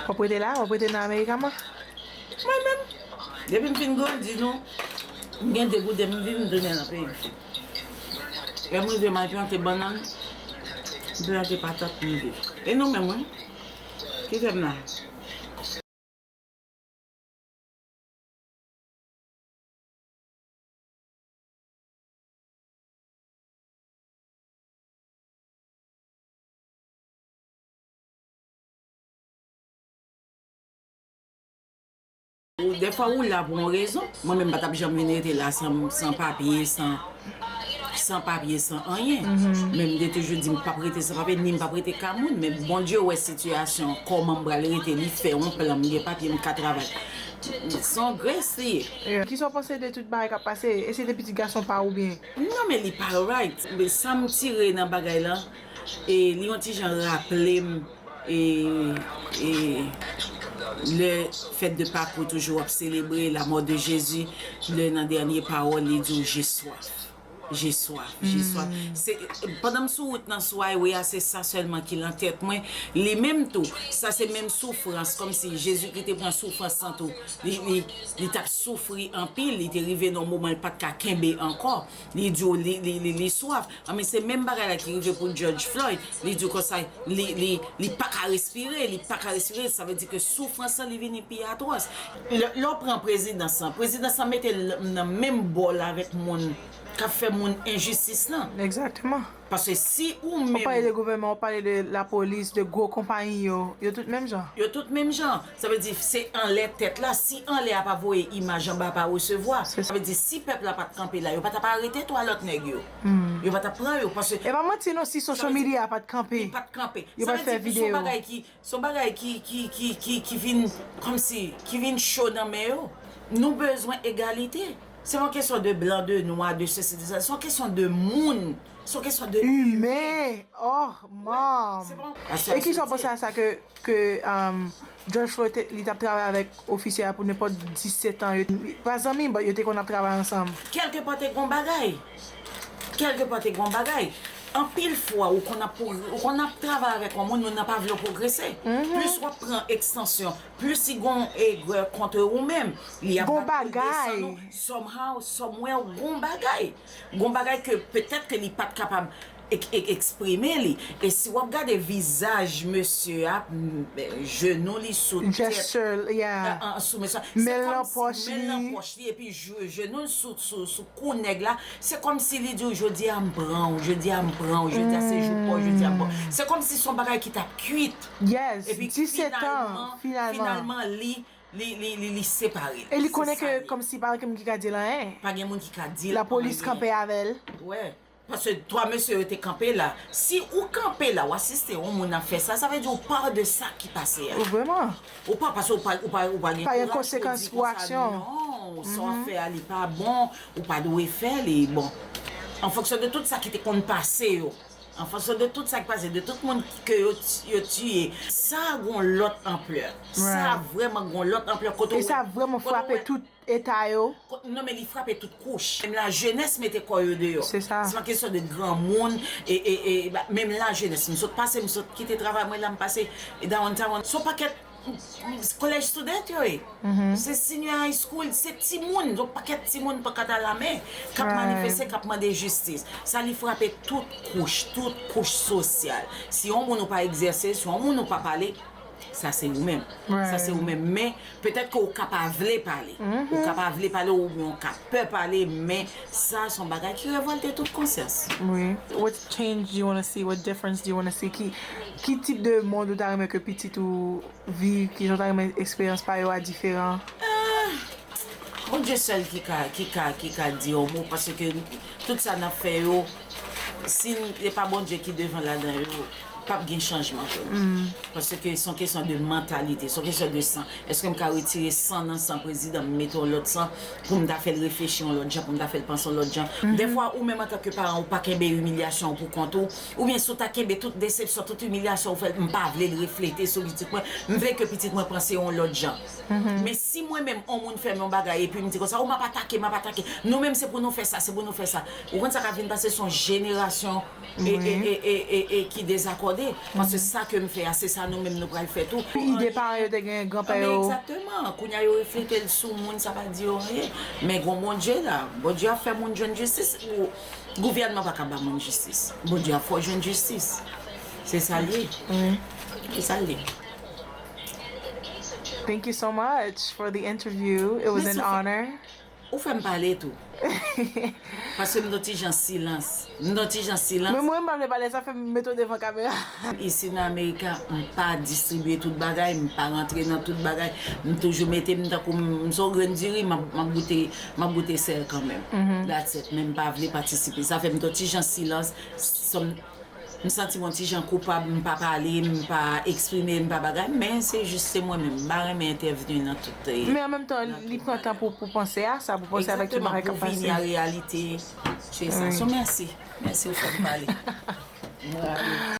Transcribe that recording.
Wap rete la? Wap rete nan America man? Mwen menm, depi m fin grandi nou, m gen degouden m viv m tounen nan peyi m. Lè m rive m al plante bannann, m plante patat pou m viv. E nou menm wi? Kite m la. Dèfwa ou la pou yon rezon. Mwen menm m pa t ap janm vin rete la san papye, san papye, san anyen. Men m te toujou di m pap rete san papye, ni m pap rete ka moun. Men Bondye wè sitiyasyon kòman m pral rete, li fè yon plan, m gen papye, m ka travay. Se yon grès li ye. Kisa w panse de tout bagay k ap pase? Èske se te pitit gason pa ou byen? Non men li pa right. Sa m tire nan bagay lan. E li yon ti jan raplem e e le fèt de Pak ou toujou ap selebre la mò de Jezi le nan dènye pawòl li di w je swaf je swaf je swaf se pandan m sou wout nan sway wi a se sa sèlman ki lan tèt mwen li menm tou sa se menm soufrans kòm si Jezikri te pran soufrans lan tou li li li tap soufri anpil li te rive nan yon moman li pat ka kenbe ankò Li di w li swaf. Anben se menm bagay la ki rive pou Judge Floyd. Li di w konsa li pa ka respire, li pa ka respire. Sa vle di ke soufrans lan li vini pi atwòs. Lè w pran prezidans lan, prezidans lan mete l nan menm bò l avèk moun k ap fè moun enjistis lan. Egzakteman. Paske si ou menm. Ou pale de gouvènman, ou pale de lapolis, de gwo konpayi yo, yo tout menm jan. Yo tout menm jan. Sa vle di se anlè tèt la, si anlè a pa voye imaj anba pa resevwa. Sa vle di si pèp la pat kanpe la yo patap arete 3 lòt nèg yo. Yo patap pran yo paske. Epa manti non si social media a pat kanpe. Li pat kanpe. Yo pat fè video. Sa vle di son bagay ki son bagay ki ki ki ki ki vin kòmsi ki vin cho nan men yo. Nou bezwen egalite. Se pa yon kesyon de blan, de nwa, de sesi, de sa. Se yon kesyon de moun. Son kesyon de ime. Oh mom. E kisa w panse a sa ke George Floyd li tap travay avèk ofisye a pou nenpòt 17 an. Pa zanmi but yo te konn ap travay ansanm. Kèlke pa te gon bagay. Kèlke pa te gon bagay. Anpil fwa ou konn ap ou konn ap travay avèk yon moun, moun nan pa vle w pwogrese. Plis wap pran ekstansyon, plis li gon egwè kontre ou menm. Li ap bat pou l desann ou. Somehow, somewhere gon bagay. Gon bagay ke petèt ke li pat kapab eksprime li e si wap gade vizaj mesye a jenou li sou tèt sou mesye a se kòmsi men nan pòch li epi jenou l sou kou nèg la se kòmsi li diw jodi a m pran w jodi a m pran w jodi a se jou paw jodi a se kòmsi son bagay ki tap kuit epi finalman finalman li Li, li, li, li separe l. E li konnen ke kòmsi pa gen moun ki ka di l anyen. Pa gen moun ki ka di l anyen. Lapolis kanpe avè l. Wè. Paske 3 mesye yo te kanpe la. Si ou kanpe la, ou asiste yon moun ap fè sa, sa vle di ou pa de sa ki pase a. Vrèman. Ou pa, paske ou pa, ou pa gen kouraj pou w di konsa. Pa gen konsekans pou aksyon w. Non, sa w ap fè a li pa bon, ou pa dwe fè li. Bon, an fonksyon de tout sa ki te konn pase yo. An fonksyon de tout sa ki pase, de tout moun ke yo tiye. Sa a gen yon lòt anplè. Sa a vrèman gen yon lòt anplè kote ou wè. E sa vrèman frape tout eta yo. Non men li frape tout kouch. Menm lajenès mete kò yo deyò. Se sa. Se pa kesyon de granmoun e menm lajenès. M sot pase, m sot kite travay mwen la, m pase Downtown. Se yon pakèt. College student yo ye. Se senior high school, se timoun, yon pakèt timoun pankat a la men, k ap manifeste, k ap mande jistis. Sa li frape tout kouch, tout kouch sosyal. Si yon moun ou pa egzèse, si yon moun ou pa pale, sa se ou menm. Sa se ou menm. Men, petèt ke ou ka pa vle pale. Ou ka pa vle pale oubyen ou ka pè pale men. Sa son bagay ki revolte tout konsyans. Wi, what change do you wanna see, what difference do you wanna see, ki ki tip de mond ou ta renmen ke pitit ou viv, ki jan w ta renmen eksperyans pa yo a diferan? Ahh Bondye sèl ki ka ki ka ki ka di yon mo paske tout sa nap fè yo si n e pa Bondye ki devan ladan yo pap gen chanjman frèm paske son kesyon de mantalite son kesyon de san eskem ka retire san nan san prezidan m mete yon lòt san poum ta fèl reflechi yon lòt jan poum ta fèl panse yon lòt jan dèfwa ou menm antanke paran ou pa kenbe imilyasyon ou pou kont ou oubyen si w ta kenbe tout desepsyon tout imilyasyon ou fèl m pa vlel reflete sou pitit mwen m vle ke pitit mwen panse yon lòt jan men si mwen menm on moun fèm yon bagay epim di konsa o map atake map atake nou menm se pou nou fè sa se pou nou fè sa ou konn sa kap vin pase son jenerasyon e ki dezakòde, paske sa ke m fè a, se sa nou menm nou pral fè tou. Ki ide paran yo te genyen, granpè yo? Egzakteman! Kounye a yo reflete l sou moun, sa pa di yo anyen. Men gon Bondye la. Bondye ap fè moun jwenn jistis. Gouvènman pa ka ba moun jistis. Bondye ap fè w jwenn jistis. Se sa l ye. Se sa l ye. Thank you so much for the interview. It was an honor. Ou fè m pale tou. Paske m gen yon ti jan silans. M gen yon ti jan silans. Menm mwen m pa vle pale sa fè m mete w devan kamera. Isi nan America m pa distribye tout bagay, m pa rantre nan tout bagay. M toujou mete m tankou m son grenn diri m ap goute m ap goute sèl kanmenm. That's it. Men m pa vle patisipe. Sa fè m gen yon ti jan silans. M santim on ti jan koupab m pa pale m pa eksprime m pa bagay men se jis se mwen menm m pa renmen entèvni nan tout. Men an menm tan li pran tan pou pou panse a sa pou panse avèk tout bagay kap pase. Egzakteman pou vini a reyalite chè sa so mèsi mèsi ou fèm pale m rale.